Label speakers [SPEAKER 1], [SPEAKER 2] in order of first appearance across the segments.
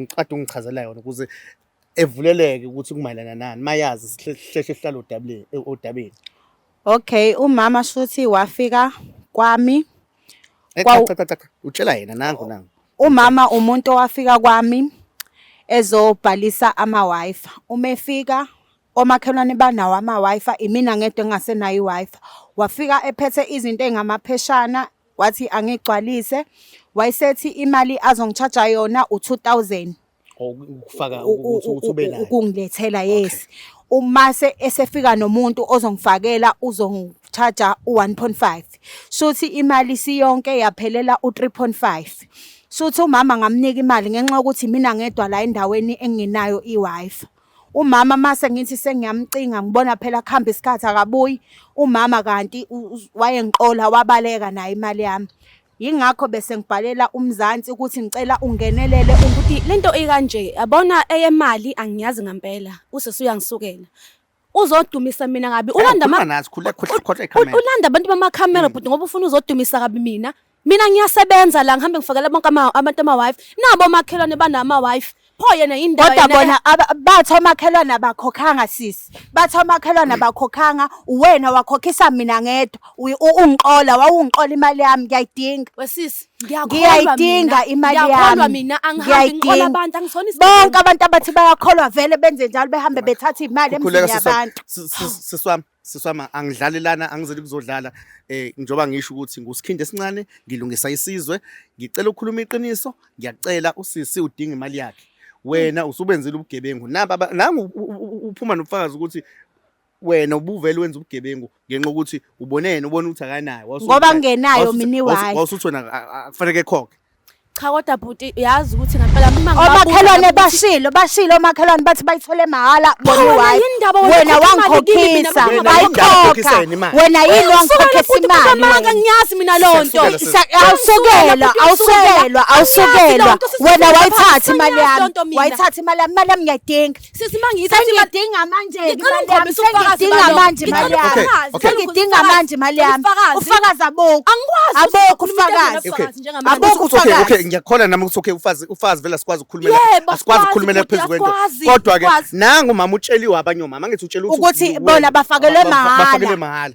[SPEAKER 1] ngicade ungichazela yona ukuze evuleleke ukuthi kumayelana nani mayazi sihleshe sihlala odabeni eh, odabeni okay
[SPEAKER 2] umama shuthi wafika kwami
[SPEAKER 1] eh, utshela yena nangu nangu umama umuntu
[SPEAKER 2] owafika kwami ezobhalisa ama-wifi uma efika omakhelwane banawo ama-Wi-Fi imina ngedwa engasenayo i-Wi-Fi wafika ephethe izinto ey'ngamapheshana wathi angigcwalise wayesethi imali azongitshaja yona u-two thousand ukufaka
[SPEAKER 1] ukuthi ukuthi ube nayo ukungilethela yes
[SPEAKER 2] uma se esefika nomuntu ozongifakela uzongicharger u1.5 shuthi imali siyonke yaphelela u3.5 shuthi umama ngamnika imali ngenxa yokuthi mina ngedwa la endaweni engenayo iWiFi Umama mase ngithi sengiyamcinga ngibona phela kuhamba isikhathi akabuyi. Umama kanti wayengiqola wabaleka naye imali yami. Yingakho bese ngibhalela uMzansi ukuthi ngicela ungenelele ukuthi lento
[SPEAKER 3] ikanje yabona eyemali angiyazi ngempela usisi uyangisukela uzodumisa mina kabi ulanda ama ulanda abantu bamakhamera mm. bhuti ngoba ufuna uzodumisa kabi mina mina ngiyasebenza la ngihambe ngifakela bonke ama- abantu ama-wife nabo omakhelwane banama-wife pho yena yindawo kodwa yena- bona aba-
[SPEAKER 2] bathi omakhelwane abakhokhanga sisi bathi omakhelwane abakhokhanga uwena wakhokhisa mina ngedwa Uyi- u- ungixola wawungixola imali yami ngiyayidinga wesisi
[SPEAKER 3] ngiyayidinga
[SPEAKER 2] imali ngiyakholwa yami mina angihambi ngixola Ngiyayidinga.
[SPEAKER 3] abantu angisona bonke abantu abathi
[SPEAKER 2] bayakholwa vele benze njalo behambe bethatha iy'mali emzini Khuleka sisi wami. yabantu Sis- sis- sisi wami
[SPEAKER 1] siswama angidlali lana angizeli kuzodlala eh njoba ngisho ukuthi ngusikhindi esincane ngilungisa isizwe ngicela ukukhuluma iqiniso ngiyacela usisi udinga imali yakhe wena hmm. usubenzile ubugebengu naba nangu uphuma nobufakazi ukuthi wena ubuvele wenza ubugebengu ngenxa ukuthi ubone yena ubona ukuthi akanayo ngoba ngenayo
[SPEAKER 2] mini wayo wasuthi wena akufanele
[SPEAKER 1] khokhe cha kodwa bhuti
[SPEAKER 3] uyazi ukuthi ngempela uma omakhelwane
[SPEAKER 2] bashilo bashilo omakhelwane bathi bayithole mahhala boniwayo wena wangikhokhisa ayikhokha wena yini wangikhokhisa imali wena ngiyazi mina lo
[SPEAKER 3] nto awusekelwa awusekelwa
[SPEAKER 2] awusekelwa wena wayithatha imali yami wayithatha imali yami imali yami ngiyayidinga sesimangisa
[SPEAKER 3] sengidinga manje
[SPEAKER 2] ngicela ukhombisa ubufakazi ngidinga manje imali yami sengidinga manje imali yami ufakazi abokho angikwazi abokho ufakazi abokho ufakazi okay okay ngiyakholana nami ukuthi okay
[SPEAKER 1] ufazi ufazi vela sikwazi ukukhulumela asikwazi ukukhulumela phezulu kwento kodwa ke nangu mama utsheliwe abanye omama ngithi utshela ukuthi bona bafakelwe
[SPEAKER 2] mahhala bafakelwe mahhala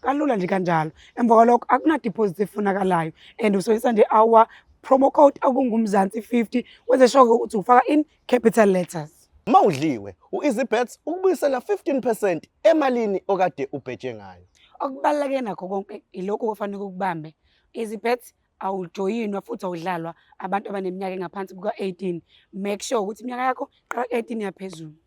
[SPEAKER 4] kalula nje kanjalo emva kwalokho akunadiposit efunakalayo and usebenzisa nje our promo code akungumzansi 50 wenze sure ukuthi ufaka in capital letters uma udliwe
[SPEAKER 1] u-easybets ukubuyisela 15 percent emalini okade ubhetshe ngayo okubaluleke nakho
[SPEAKER 4] konke ilokhu okufanele ukubambe easybets awujoyinwa futhi awudlalwa abantu abaneminyaka engaphansi kuka-18 make sure ukuthi iminyaka yakho qala ku-18 yaphezulu